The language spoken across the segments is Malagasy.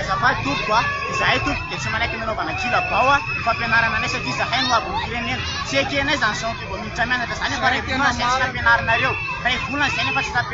Azafady tompoko a, izahay tompoko dia tsy manaiky ny hanaovana kilabao a, ny fampianarana anay satria izahay no abon'ny firenena. Tsy ekenay izany sao toa vao miditra mianatra izany aho fa iray volana izay tsy nampianarinareo, iray volana izay nefa tsy nampianarinareo.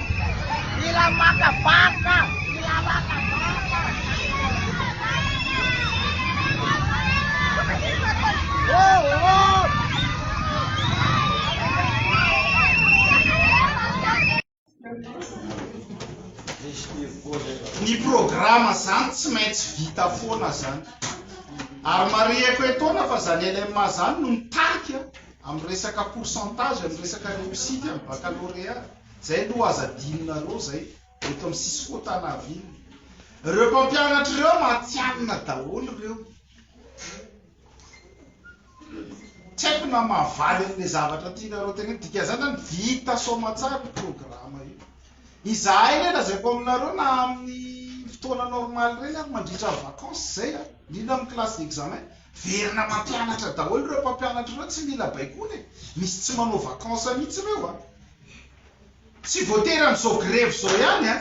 Mila maka barika Mila maka barika Ny programa zany tsy maintsy vita foana zany ary marihiko etoana fa zany LMA zany no mitarika amin'ny resaka pourcentage amin'ny resaka réussite amin'ny baccalauréat Zay aloha aza adinonareo zay eto am cisco tanaville reo mpampianatra reo mantsianina daholo reo tsy haiko na mahavaly anle zavatra tianareo teneno dikanzany zany vita soamatsara io programa io izahay le lazaiko aminareo na aminy fotoana normal reny ary mandritra vacance zay a indrindra am classe d'examen verina mampianatra daholo reo mpampianatra reo tsy mila baikona e misy tsy manao vacance mitsy reo a Tsy voatery amin'izao grevy izao ihany an,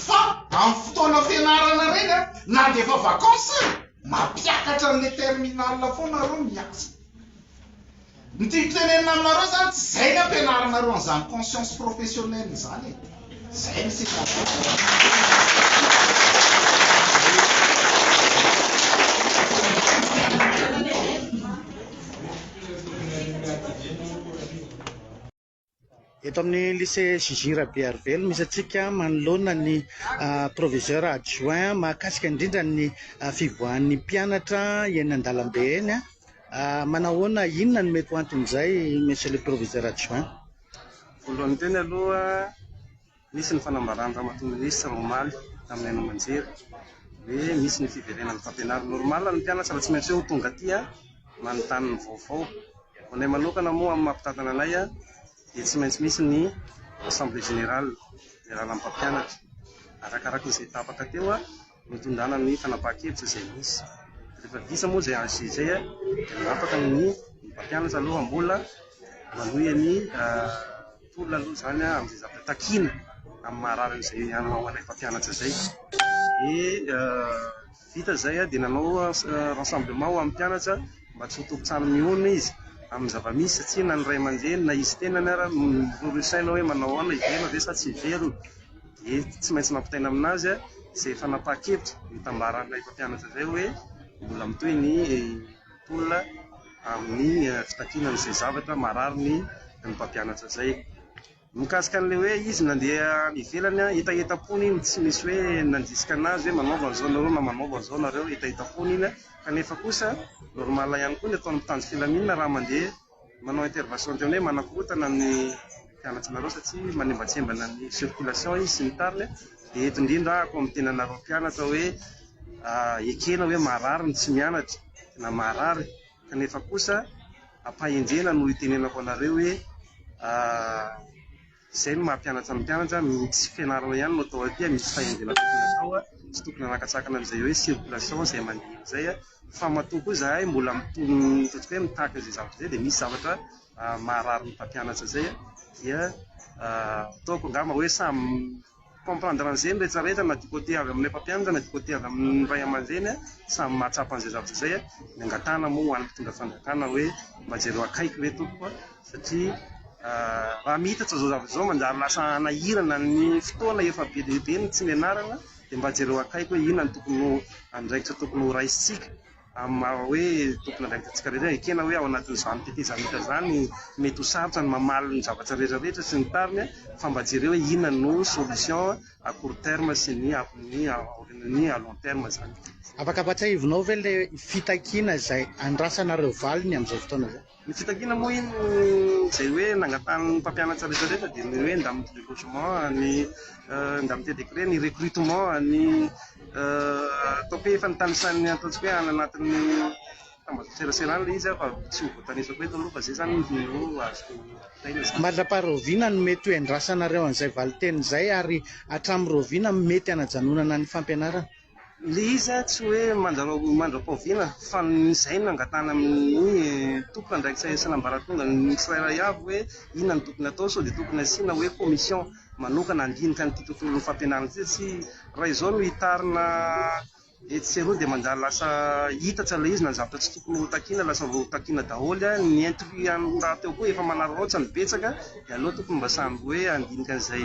fa amin'ny fotoana fianarana ireny an, na dia efa vacances aza, mampiakatra an'ilay terminal foana nareo no miasa. Ny tiako tenenina aminareo izany, tsy izay ny ampianarinareo an'izany conscience professionnelle izany e. Izay ny Eto amin'ny lycée JJ Rabearivelo misy antsika manoloana ny ah, proviseur adjoint mahakasika indrindra ny ah, fivoahan'ny mpianatra eny an-dalambe eny. ah. Ah, Manahoana, inona no mety ho anton'izay, monsieur le proviseur adjoint? Voalohany teny aloha Nisy ny fanambarany Ramatoa Minisitra omaly tamin'ny haino aman-jery hoe misy ny fiverenan'ny fampianarana. Normal ny mpianatra raha tsy maintsy hoe tonga aty manontany ny vaovao. Ho anay manokana moa amin'ny maha mpitantana anay dia tsy maintsy misy ny assemblée générale, ny alalam-pampianatra. Arakaraka izay tapaka teo. Nitondrana ny fanapahan-kevitra izay nisy. Rehefa vita moa izay AG izay dia manapaka ny ny mpampianatra aloha mbola manohy ny tolona aloha izany amin'izay zavatra takiana amin'ny maha rarin'izay ho an'ilay mpampianatra izay. Dia vita izay dia nanao rassemblement ho an'ny mpianatra mba tsy ho tompon-trano mihona izy amin'ny zava-misy satria na ny ray aman-dreny na izy tenany ary miroro saina hoe manao ahoana, hiverina ve sa tsy hiverina. dia tsy maintsy nampitaina aminazy izay fanapahan-kevitra nitambaran'ilay mpampianatra izay hoe mbola mitohy ny tolona amin'ny fitakiana an'izay zavatra marariny ny mpampianatra izay. Mikasika an'ilay hoe izy nandeha any ivelany, hetahetam-pony iny, tsy misy hoe nandrisika anazy hoe manaova an'izao nareo na manaova an'izao nareo, hetahetam-pony iny, kanefa kosa normal ihany koa ny ataon'ny mpitandro filaminana raha mandeha Manao intervention teo ny hoe manakorontana ny mpianatrnareo satria manimbatsembana ny circulation izy sy ny tariny dia eto indrindra aho koa miteny anareo mpianatra hoe ekena hoe marary ny tsy mianatra na marary kanefa kosa ampahendrena no itenenako anareo hoe Izay no maha-mpianatra ny mpianatra, ny tsy fianarana ihany no atao aty, misy fahendrena tokony atao, tsy tokony hanakatsakana an'izay hoe circulation izay mandeha izay, fa matoa koa izahay mbola mitono ataontsika hoe mitaky an'izay zavatra izay dia misy zavatra maharary ny mpampianatra izay dia ataoko angamba hoe samy comprendre an'izay ny rehetra rehetra na du côté avy amin'ilay mpampianatra na du côté avy amin'ny ray aman-dreny a, samy mahatsapa an'izay zavatra izay a, ny angatahana moa ho an'ny mpitondra fanjakana hoe mba jereo akaiky ve tompoko a, satria raha mihitatra izao zavatra izao manjary lasa hanahirana ny fotoana efa be dia be ny tsy nianarana dia mba jereo akaiky hoe inona no tokony ho andraikitra tokony ho raisintsika. Amin'ny maha hoe tompon'andraikitantsika rehetra, ekena hoe ao anatin'izany tetezamita izany, mety ho sarotra ny mamaly ny zavatra rehetrarehetra sy ny tariny fa mba jereo hoe inona no solution à court terme sy ny amin'ny aorianan'ny à long terme izany. Afaka ampahatsiahivinao ve ilay fitakiana izay andrasanareo valiny amin'izao fotoana izao? Ny fitakiana moa iny izay hoe nangatahan'ny mpampianatra rehetra rehetra dia ny hoe indemnité de logement, ny indemnité de crèche, ny recrutement, ny ataoko hoe efa nitanisan'ny ataontsika hoe any anatin'ny tambazotran-tserasera any ilay izy aho fa tsy ho voatanisako eto aloha fa izay izany no azoko taina izany. Mandra-paharoviana no mety ho iandrasanareo an'izay valinteny izay ary hatramin'ny roviana mety hanajanonana ny fampianarana? Ilay izy an, tsy hoe mandra-pahoviana fa izay no angatahana amin'ny tompon'andraikitra isan'ambaratonga ny tsirairay avy hoe inona no tokony hatao sao dia tokony hasiana hoe commission manokana handinika an'ity tontolon'ny fampianarana ity satria raha izao no hitarina etsy sy eroa dia manjary lasa hita aza ilay izy na ny zavatra tsy tokony ho takiana lasa voatakiana daholo an, ny intrus rahateo koa efa manararaotra no betsaka dia aleo tokony mba samy hoe handinika an'izay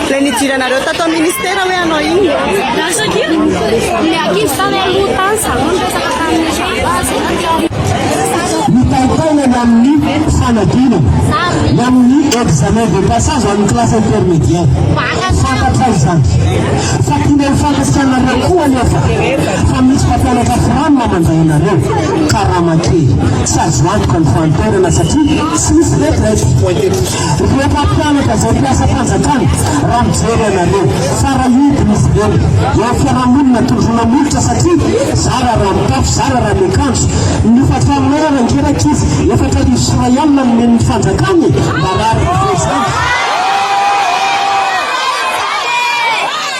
Ilay nidiranareo tato amin'ny ministera hoe hanao inona? Lasa dia ny ankizy tany aloha tany zareo niresaka tamin'ny zavazy. Mitaitaina ny amin'ny fanadinana, ny amin'ny examen de passage amin'ny classe intermédiaire. Fantatra izany. Fa tiana ho fantatrao anareo koa anefa fa misy mpampianatra fram mandray anareo. Karama kely. Tsy azo antoka ny fahanterana satria tsy misy retraite. Ireo mpampianatra izay mpiasam-panjakana raha mijery anareo fa rahoby izy ireny eo fiarahamonina tondroina molotra satria zara raha mitafy zara raha miakanjo ny fatraminay rangera ankizy efatra arivo sy iray alina nomen'ny fanjakana e marary izany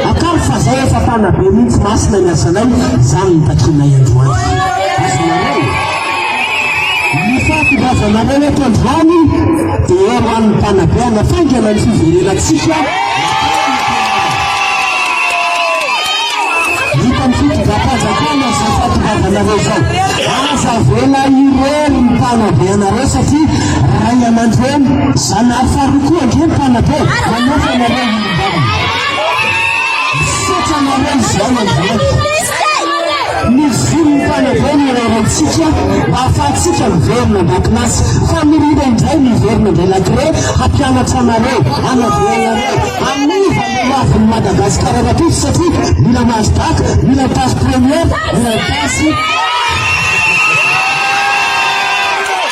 Angano fa zay efa mpanabe mintsy masina ny asanay zany ny takinay androany azonareo ny fahatondrazanareo eto androany de eo an'ny mpanabe anafaingana ny fiverenatsika hitan'ny fitondram-panjakana zay fahatondrazanareo zao aza vela irery ny mpanabe anareo satria ray aman-dreny zanahary farokoa ndre ny mpanabe manofanareo Misaotra anareo izao mandalo. Mivory tany avy ny raratsika mba hahafahantsika miverina andakilasy. Famirina indray miverina indray lagré hampianatra anareo, hanavoana anareo, haniva ny lavin'i Madagasikara rahampitso satria mila Nasdaq, mila place première, mila place.